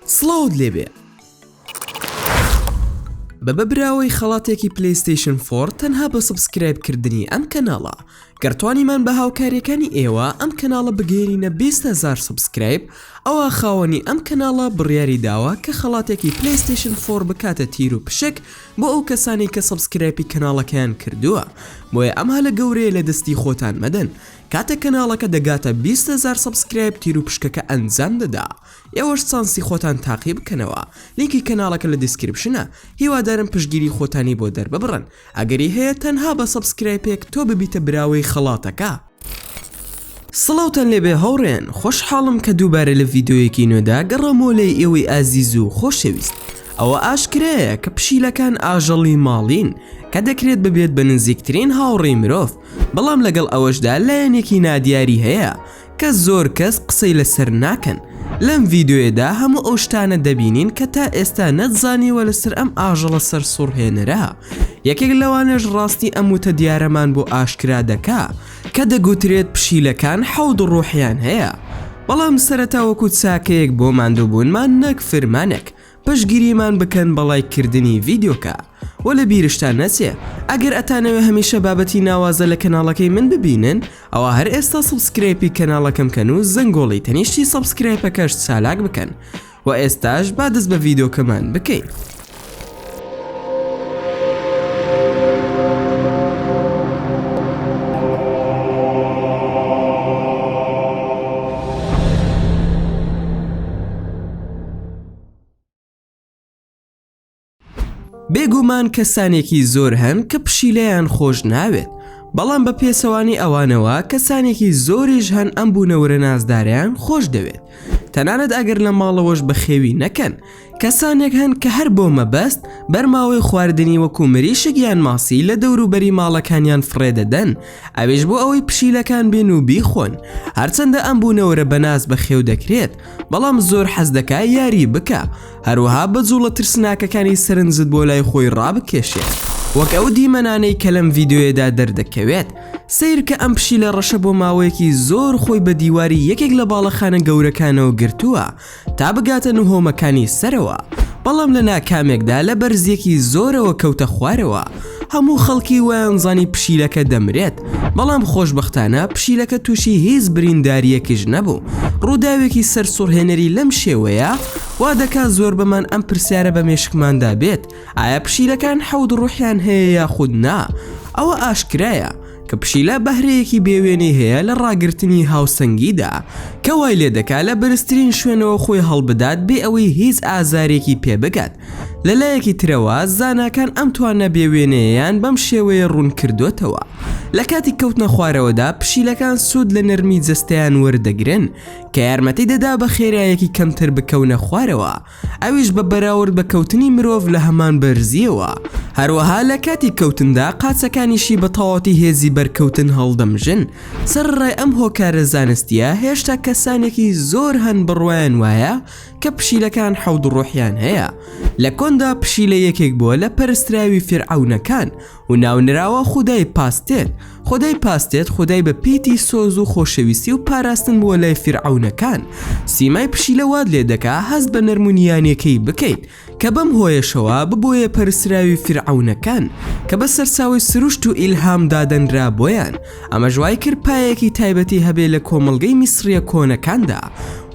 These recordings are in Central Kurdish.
سڵاوت لێبێ بە بە براوەی خەڵاتێکی پلیستیشن فۆر تەنها بە سبسکرایب کردنی ئەم کەناڵە گەرتوانیمان بە هاوکاریەکانی ئێوە ئەم کەناڵە بگەێنینە 20هزار سبسکرایب ئەوە خاوەنی ئەم کەناڵە بڕیاری داوە کە خەڵاتێکی پلیستیشن فۆر بکاتە تیر و پشک بۆ ئەو کەسانی کە سبسکرایپی کەناڵەکەیان کردووە بۆیە ئەمها لە گەورەیە لە دەستی خۆتان مەدەن کاتێک کەناڵەکە دەگاتە بیست هەزار سەبسکرایب تیروپشکەکە ئەنجام دەدا ئێوەش چانسی خۆتان تاقی بکەنەوە لینکی کەناڵەکە لە دیسکریپشنە هیوادارم پشتگیری خۆتانی بۆ دەرببڕن ئەگەری هەیە تەنها بە سەبسکرایپێک تۆ ببیتە براوەی خەڵاتەکە. سڵاوتان لێبێ هاوڕێیان خۆشحاڵم کە دووبارە لە ڤیدۆیەکی نوێدا گەڕامەوە لای ئێوەی ئازیز و خۆشەویست ئەوە ئاشکرایە کە پشیلەکان ئاژەڵی ماڵین کە دەکرێت ببێت بە نزیکترین هاوڕێی مرۆڤ بەڵام لەگەڵ ئەوەشدا لایەنێکی نادیاری هەیە کە زۆر کەس قسەی لەسەر ناکەن لەم ڤیدۆیەدا هەموو ئەو شتانە دەبینین کە تا ئێستا نەتزانیوە لەسەر ئەم ئاژەڵە سەرسوڕهێنەرە یەکێک لەوانەش ڕاستی ئەم وتە دیارەمان بۆ ئاشکرا دەکا کە دەگوترێت پشیلەکان حەوت ڕوحیان هەیە بەڵام سەرەتا وەکو چاکەیەک بۆ ماندووبوونمان نەک فرمانێک پشگیریمان بکەن بە ڵایک کردنی ڤیدیۆکە وە لە بیرشتان نەچێ ئەگەر ئەتانەوێ هەمیشە بابەتی ناوازە لە کەناڵەکەی من ببینن ئەوا هەر ئێستا سوبسکرەیپی کەناڵەکەم کەن و زەنگۆڵی تەنیشتی سەبسکرایپەکەش چالاک بکەن وە ئێستاش با دەست بە ڤیدۆکەمان بکەین. بێگومان کەسانێکی زۆر هەن کە پشیلەیان خۆش ناوێت بەڵام بە پێچەوانەی ئەوانەوە کەسانێکی زۆریش هەن ئەم بوونەوەرە نازداریان خۆش دەوێت تەنانەت ئەگەر لە ماڵەوەش بەخێوی نەکەن کەسانێک هەن کە هەر بۆ مەبەست بەرماوەی خواردنی وەکو مریشک یان ماسی لە دەوروبەری ماڵەکانیان فڕێدەدەن ئەوێش بۆ ئەوەی پشیلەکان بێن و بیخۆن هەرچەندە ئەم بوونەوەرە بەناز بەخێو دەکرێت بەڵام زۆر حەز دەکا یاری بکا هەروەها بە جوڵە ترسناکەکانی سەرنجت بۆ لای خۆی ڕابکێشێت وەک ئەو دیمەنانەی کە لەم ڤیدیۆیەدا دەردەکەوێت سەیرکە ئەم پشیلە ڕەشە بۆ ماوەیەکی زۆر خۆی بە دیواری یەکێک لە باڵەخانە گەورەکانەوە گرتووە تا بگاتە نهۆمەکانی سەرەوە بەڵام لە ناکامێکدا لە بەرزیەکی زۆرەوە کەوتە خوارەوە هەموو خەڵکی وایانزانی پشیلەکە دەمرێت، بەڵام خۆشبەختانە پشیلەکە تووشی هیچ بریندارییەکیش نەبوو. ڕووداوێکی سەرسوڕهێنەری لەم شێوەیە وا دەکات زۆربەمان ئەم پرسیارە بە مێشکماندا بێت، ئایا پشیلەکان حەوت ڕوحیان هەیە یاخود نا؟ ئەوە ئاشکرایە کە پشیلە بەهرەیەکی بێوێنەی هەیە لە ڕاگرتنی هاوسەنگیدا، کە وای لێدەکات لە بەرزترین شوێنەوە خۆی هەڵبدات بێ ئەوەی هیچ ئازارێکی پێبگات. لەلایەکی ترەوە زاناکان ئەم توانا بێ وێنەیەیان بەم شێوەیە ڕوون کردۆتەوە، لە کاتی کەوتنە خوارەوەدا پشیلەکان سوود لە نەرمی جەستەیان وەردەگرن کە یارمەتی دەدا بە خێرایەکی کەمتر بکەونە خوارەوە ئەویش بە بەراورد بە کەوتنی مرۆڤ لە هەمان بەرزییەوە هەروەها لە کاتی کەوتندا قاچەکانیشی بە تەواوەتی هێزی بەرکەوتن هەڵدەمژن سەرەڕای ئەم هۆکارە زانستییە هێشتا کەسانێکی زۆر هەن بڕوایان وایە کە پشیلەکان حەوت ڕۆحیان هەیە لە کۆندا پشیلە یەکێک بووە لە پەرستراوی فرعونەکان و ناونراوە خدای پاستێت خدای پاستێت خدای بە پیتی سۆز و خۆشەویستی و پاراستن بووە لای فرعونەکان سیمای پشیلە واد لێ دەکا هەست بە نەرمونیانەکەی بکەیت کە بەم هۆیەشەوە ببۆیە پەرستراوی فیرعەونەکان کە بە سەرچاوەی سروشت و ئیلهام دادەنرا بۆیان ئەمەش وای کرد پایەیەکی تایبەتی هەبێ لە کۆمەڵگەی میسریە کۆنەکاندا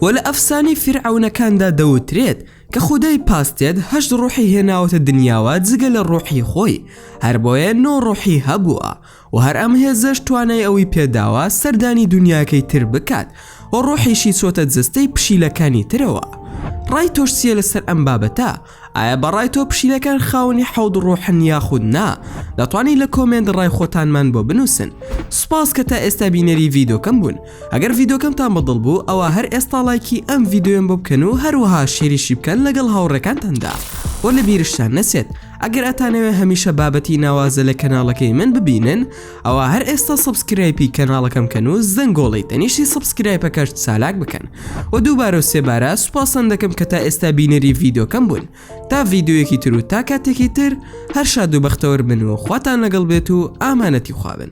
وە لە ئەفسانەی فیرعەونەکاندا دەوترێت کە خودای پاستێت هەشت ڕۆحی هێناوەتە دنیاوە جگە لە ڕۆحی خۆی هەربۆیە نۆ ڕۆحی هەبووە و هەر ئەم هێزەش توانای ئەوەی پێداوە سەردانی دونیاکەی تر بکات و ڕۆحیشی چۆتە جەستەی پشیلەکانی ترەوە ڕای تۆش چیە لەسەر ئەم بابەتە؟ ئایا بەڕای تۆ پشیلەکان خاوەنی حەوت ڕۆحن یاخود نا؟ دەتوانیت لە کۆمێنت ڕای خۆتانمان بۆ بنووسن سوپاس کە تا ئێستا بینەری ڤیدۆکەم بوون ئەگەر ڤیدۆکەمتان بەدڵ بوو ئەوە هەر ئێستا ڵایکی ئەم ڤیدۆیەم بۆ بکەن و هەروەها شێریشی بکەن لەگەڵ هاوڕێکانتاندا و لە بیرشتان نەچێت ئەگەر ئەتانەوێ هەمیشە بابەتی ناوازە لە کەناڵەکەی من ببینن ئەوە هەر ئێستا سبسکرایپی کەناڵەکەم کەن و زەنگۆڵی تەنیشتی سبسکرایپەکەش چالاک بکەن و دووبارە و سێبارە سوپاسەن دەکەم کە تا ئێستا بینەری ڤیددیوکەم بوون تا ڤیددیوەکی تر و تا کاتێکی تر هەر شاد و بەختەوەر بن و خواتان لەگەڵ بێت و ئامانەتی خوابن